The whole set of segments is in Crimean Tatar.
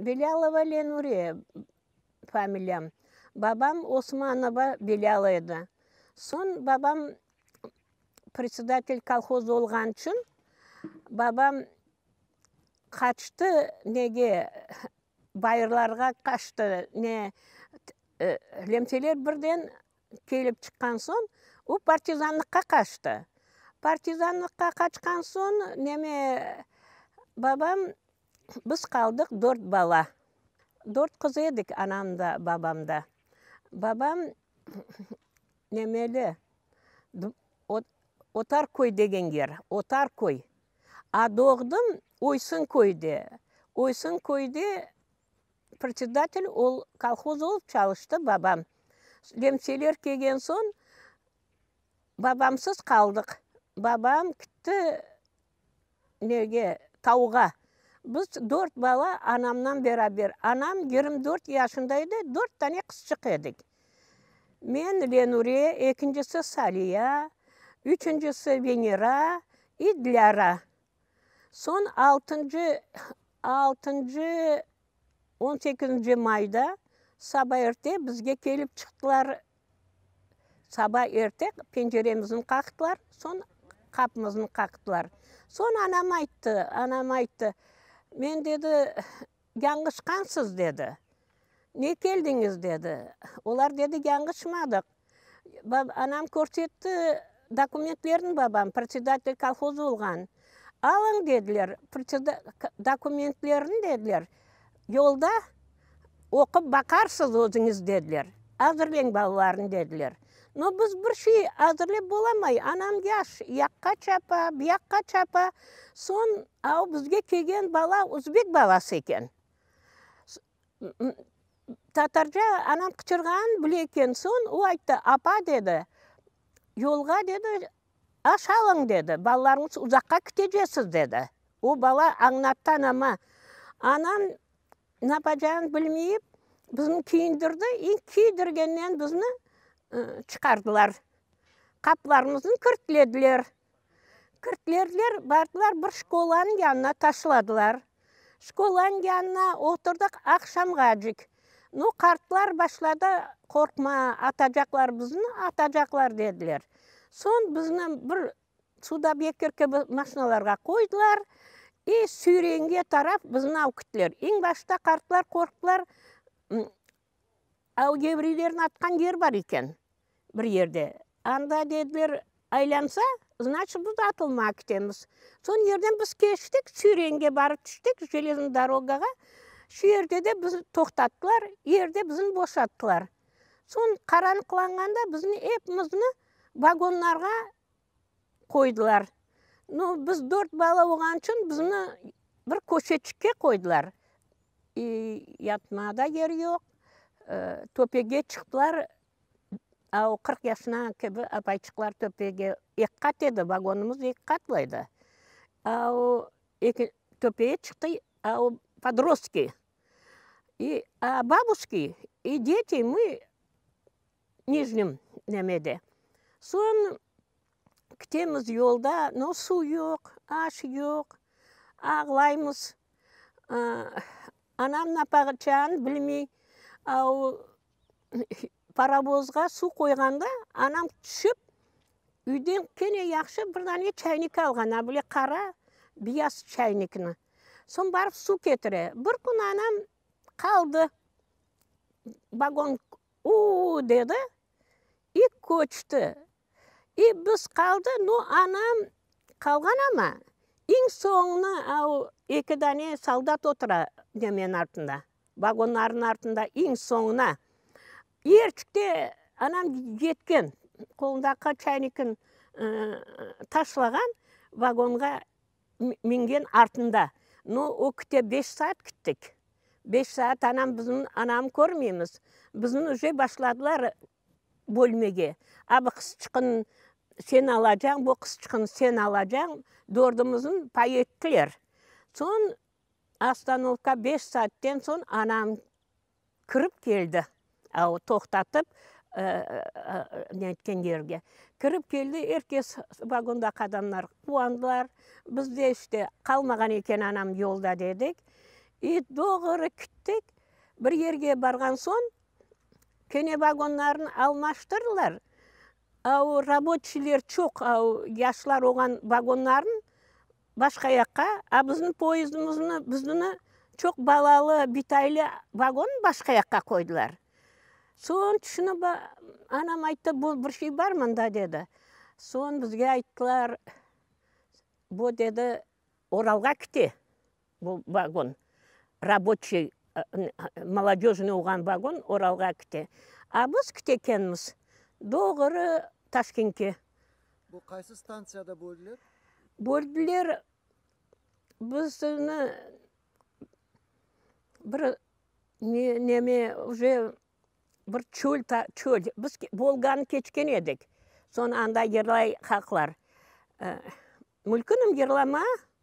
Belâlova Lenuriye familiyam. Babam Osmanova Belâla edi. Soñ babam predsedatel kolhoz olğanı içün babam qaçtı nege, bayırlarğa qaçtı. Ne, lemteler birden Kelip çıqqan soñ, o partizanlıqqa qaçtı. Partizanlıqqa qaçqan soñ, neme, babam, biz qaldıq dört bala. Dört qız edik, anam da, babam da. Babam nemeli, Otarköy degen yer, Otarköy. A doğdım Oysınköyde. Oysınköyde Predsedatel ol kolhoz olıp çalıştı babam. Lemseler kelgen soñ babamsız qaldıq. Babam kitti nege, tavğa. Biz dört bala anamnan beraber. Anam yigirmi dört yaşında edi, dört tane qızçıq edik. Men, Lenure, ekincisi, Saliya, üçüncisi, Venera, i Dilâra. Soñ altıncı, altıncı, on sekizinci mayda saba erte bizge kelip çıqtılar. Saba erte penceremizni qaqtılar, soñ qapımıznı qaqtılar. Soñ anam ayttı, anam ayttı, men dedi, Yañışqansız, dedi. Ne keldiñiz? dedi. Olar dedi, Yañışmadıq. Anam körsetti dokumentlerini, babam predsedatel kolhoz olğan. Alıñ, dediler, dokumentlerini, dediler, yolda oqup baqarsız özüñiz, dediler. Azırlañ balalarnı, dediler. No, biz bir şey azırlep bolamay, anam yaş, yaqqa çapa, buyaqqa çapa, soñ, a o bizge kelgen bala uzbek balası eken. Tatarca anam qıçırğanın bile eken, soñ o ayttı, Apa, dedi, yolğa, dedi, aş alıñ, dedi, balalarıñız uzaqqa kitecesiz, dedi. O bala añlattı anama. Anam Napacağını bilmeyip, bizni küyündirdi i küydirgennen bizni çıqardılar. Qapılarımıznı kirtlediler. Kirtlediler, bardılar bir şkolanıñ yanına taşladılar. Şkolanıñ yanına oturdıq aqşamğacık. Nu, qartlar başladı, qorqma, atacaqlar bizni, atacaqlar, dediler. Soñ bizni bir Sudobekir kibi maşinalarğa qoydılar i Sürengi taraf bizni alıp gittiler. Eñ başta qartlar qorqtılar, o evreylerni atqan yer bar eken bir yerde. Anda dediler, aylansa, значит, biz atılmağa ketemiz. Son yerden biz keçtik, Sürenge barıp tüştik, jeleznıy dorogağa. Şu yerde de bizni toqtattılar, yerde bizni boşattılar. Soñ qaranlıqlanğanda bizni epimizni Vagonlarğa qoydılar. Nu, biz dört bala olğan içün bizni bir köşeçikke qoydılar. İ, yatmağa da yer yoq. Töpege çıqtılar, a o qırq yaşına kibi apayçıqlar töpege, eki qat edi, vagonımız eki qatlı edi. A o eki, töpege çıqtı, a o podrostki, i, a babuşki, i deti, mı. Nijniy Nemede. Soñ ketemiz yolda, no suv yoq, aş yoq, ağlaymız. Anam napaqaçanı bilmey. Au parovozğa suv qoyğanda anam tüşüp, üyden kene yahşı bir dane çaynik alğan, a bile qara biyaz çaynikni. Soñ barıp suv ketire. Bir kün anam qaldı, vagon U-u-u! dedi, i köçti. İ biz qaldı, no anam qalğan ama, iñ soñuna au eki dane soldat otura nemenin artında, vagonlarnıñ artında iñ soñuna. Erçikte anam yetken, qolundaki çaynikin taşlağan, vagonğa mingen artında. Nu, o küte beş saat küttik. Beş saat anam bizim, anamı körmeymiz. Bizni uje başladılar bölmege. A bu qızçıqnı sen alacağıñ, bu qızçıqnı sen alacağıñ, dördümizni pay ettiler. Soñ ostanovka beş saatten soñ anam. kirip keldi, o toqtatıp, netken yerge kirip keldi, er kes, vagonda qadınlar quvandılar, bizde işte qalmağan eken anam yolda dedik, i doğru kettik, bir yerge barğan soñ, kene vagonlarnı almaştırdılar, a o rabotçiyler çoq, yaşlar olğan vagonlarnı. Başqa yaqqa, a bizni poyezdimizni, biznini çoq balalı, bitaylı vagonnı başqa yaqqa qoydılar. Soñ tüşünip, anam ayttı, bu bir şey bar mında, dedi. Soñ bizge ayttılar, bu, dedi, Oralğa kite, bu vagon, rabotşiy, molodежный olğan vagon Oralğa kite. A biz kitekenmiz doğru Taşkentke. Bu qaysı stantsiyada böldiler? Böldiler, bizni bir neme, уже bir çöl, çöl, biz Volganı keçken edik, soñ anda yerlay haqlar. Mülkünim yerlama,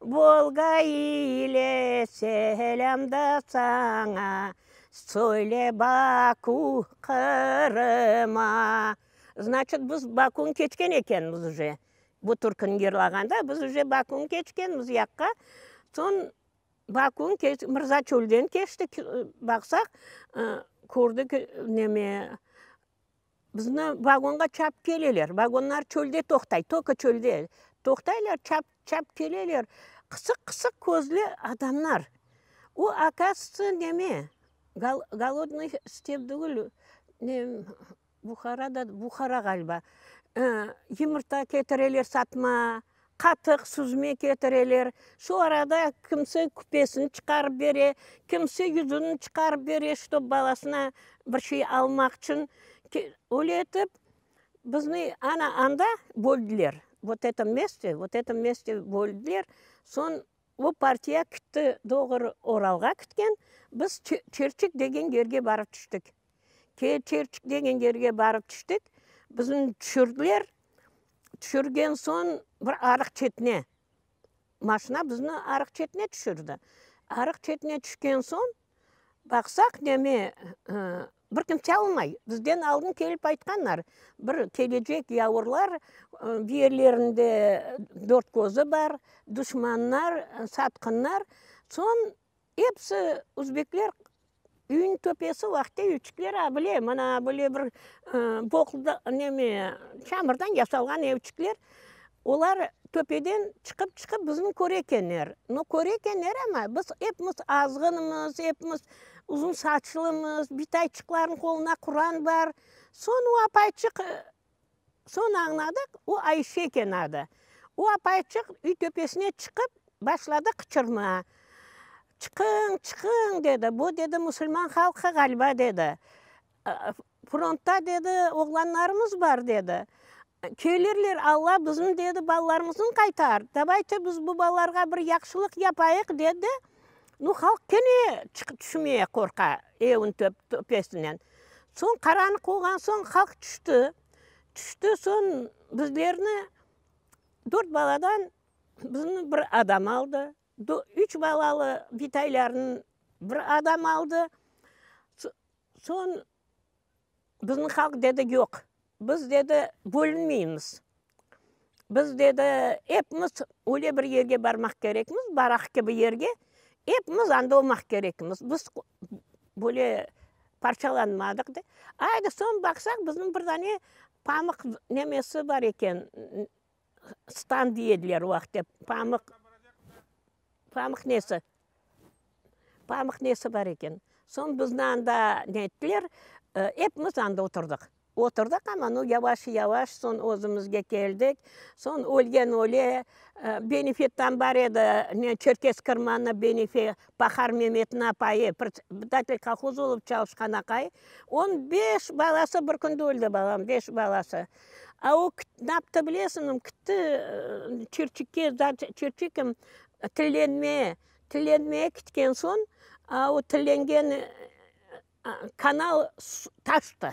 Volga ile selâm da saña, Söyle Baku Qırıma. Znaçıt, biz Bakuni keçken ekenmiz uje. Bu türküni yırlağanda biz uje Bakuni keçkenmiz u yaqqa. Soñ Bakuni keçtik, Mırzaçölden keçtik, baqsaq, kördik, neme, Bizni vagonğa çapıp keleler. Vagonlar çölde toqtay, toka çölde toqtaylar, çapıp, çapıp keleler. Qısıq, qısıq közlü adamlar. O, akazıtsı, neme, Golodnıy step degil, ne, Buhara da, Buhara ğaliba. Yımırta ketireler satma, Qatıq, süzme ketireler. Şu arada kimse küpesini çıqarıp bere, kimse yüzügini çıqarıp bere, ştob balasına bir şey almaq içün. Öyle etip, bizni ana anda böldiler. Vot etom mestte, vot etom mestte böldiler. Soñ. O partiya kitti, doğru Oralğa kitken, biz Çerçik degen yerge barıp tüştik. Çerçik degen yerge barıp tüştik, bizni tüşürdiler, tüşürgen soñ bir arıq çetine, maşina bizni arıq çetine tüşürdi. Arıq çetine tüşken soñ, baqsaq neme, Bir kimse almay. Bizden aldın kelip aytqanlar, bir kelecek yavurlar bir yerlerinde dört közü bar, duşmanlar, satqınlar, soñ episi uzbekler üyniñ töpesi vahte evçikler abile, mana abile bir çamırdan yasalğan evçikler. Olar töpeden çıqıp-çıqıp bizni köre ekenler. No köre ekenler, amma biz epimiz azğınmız, epimiz uzun saçlımız, bitayçıqlarnıñ qolunda quran bar. Soñ o apayçıq, soñ añladıq, o Ayşe eken adı. O apayçıq üy töpesine çıqıp, başladı qıçırma. Çıqıñ, çıqıñ! dedi. Bu, dedi, musulman halqı ğaliba, dedi. Frontda, dedi, oğlanlarımız bar, dedi. Köylerler, Alla bizim, dedi, balalarımıznı qaytar, davay te, biz bu balalarğa bir yahşılıq yapayıq, dedi. Nu, halq kene çıqıp tüşmeye qorqa, evin töpesinen. Soñ qaranlıq olğan soñ halq tüşti. Tüşti, soñ bizlerni, dört baladan bizni bir adam aldı. Üç balalı bitaylarnı bir adam aldı. Soñ. Bizni halq dedi, yoq, biz dedi, bölünmeymiz, biz dedi, epimiz öyle bir yerge barmaq kerekmiz, baraq kibi yerge, epimiz anda olmaq kerekmiz, biz böyle parçalanmadıq dep, ayda soñ baqsaq, bizim bir dane pamıq nemesi bar eken, Stan diye ediler o vaqıtta, pamıq, pamıq nesi, pamıq nesi bar eken. Soñ bizni anda ne ettiler, hepimiz anda oturdıq. Oturdıq, amma nu yavaş yavaş soñ özümizge keldik. Soñ ölgen öle, benefettan bar edi, ne, Çerkez Kırmanı benefet, Pahar Memetniñ apayı, predsedatelь kolhoz olıp çalışqan aqay, on beş balası bir künde öldi, balam, beş balası. A o naptı bilesiñmi, kitti çirçikke, çirçikim tillenmeye, tillenmeye kitken soñ, a o tillengen kanal taştı.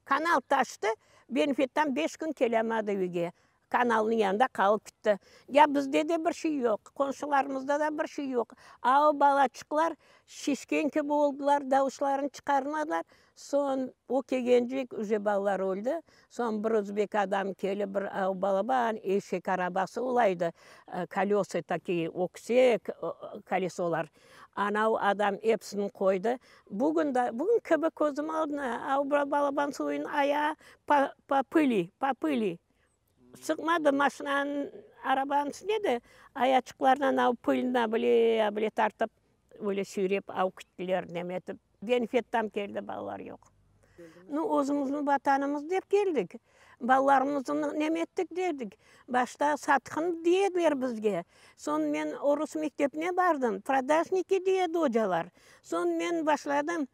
Kanal taştı, benfitdan beş kün kelâmadı üyge. Kanalnıñ yanında qalıp kitti. Ya bizde de bir şey yoq, qonşularımızda da bir şey yoq. A o balaçıqlar şişken kibi oldılar, davuşlarını çıqarmadılar. Soñ o kelgencik üce balalar öldi. Soñ bir özbek adam kelip, bir balaban eşek arabası olaydı, kolesa takiye, öksek kolesolar. Ana o adam epsini qoydı. Bugün de, bugün kibi közüm aldına, a o balaban suyun aya pa, pa pıli, pa pıli. Çıqmadı maşinanıñ, arabanıñ içinde de ayaçıqlarınan alıp pılına bile bile tartıp böyle süyrep alıp kettiler nem etip. Genfettan keldi balalar yoq. Nu özümizniñ vatanımız dep keldik. Balalarımızı nem ettik dedik. Başta satqın diye ediler bizge. Soñ men orus mektebine bardım. Prodajniki diye edi ocalar. Soñ men başladım.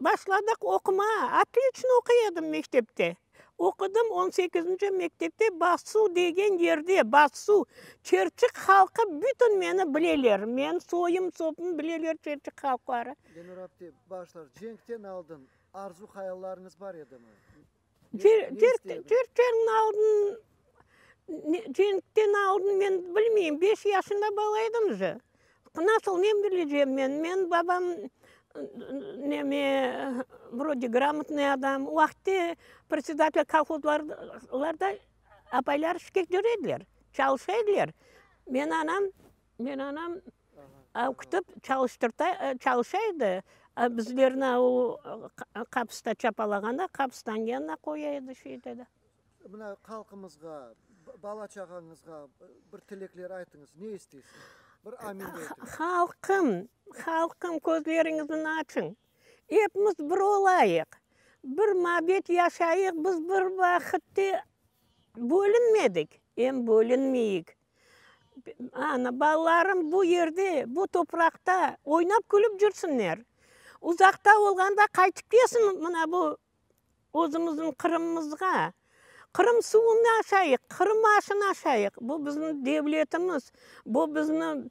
Başladıq oqumağa. Atı içün oquy edim mektepte. Oqudım on sekizinci mektepte Bassu degen yerde, Bassu, Çerçik halqı bütün meni bileler. Men soyum sopum bileler Çerçik halqları. Gönür apte, bağışlav, cenkten aldın arzu hayallarıñız bar edimi? Türekten aldın, türekten aldın, men bilmeyim, beş yaşında bala edim jı, nasıl, nem bileceğim men, menim babam, neme, vrode, gramotnıy adam, o vaqıtte predsedatelь kolhozlarda apaylar işke cürediler, çalışa ediler, meni anam Men anam oqutıp çalışa edi, bizlerni o kapısta çapalağanda kapıstanıñ yanına qoya edi, şey ete edi. Mına halqımızğa, bala çağañızğa bir tilekler aytıñız, ne isteysiñiz? Bir amin de etiñ. Halqım, halqım közleriñizni açıñ, epimiz bir olayıq, bir mabet yaşayıq, biz bir vaqıtte bölünmedik, em bölünmeyik. Ana, balalarım bu yerde, bu topraqta oynap-külüp cürsünler. Uzaqta olğanda qaytıp kelsin mına bu özümüzniñ Qırımımızğa. Qırım suvunı aşayıq, Qırım aşını aşayıq. Bu, bizim devletimiz, bu, bizim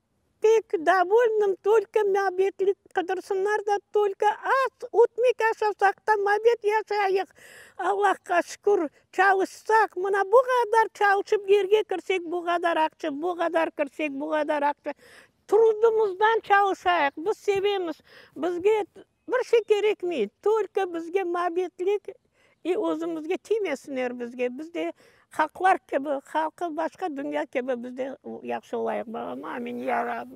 Pek davolnım, tolko mabetlik qıdırsınlar da, tolko az ötmek aşasaq da, mabet yaşayıq. Allahqa şükür, çalışsaq, mına bu qadar çalışıp yerge kirsek, bu qadar aqça, bu qadar kirsek, bu qadar aqça. Trudımızdan çalışayıq, biz sevemiz, bizge Bir şey kerekmey, tolko bizge mabetlik i özümizge tiymesinler bizge, biz de halqlar kibi, halqı başqa dünya kibi biz de yahşı olayıq balam, amin, ya Rabbi.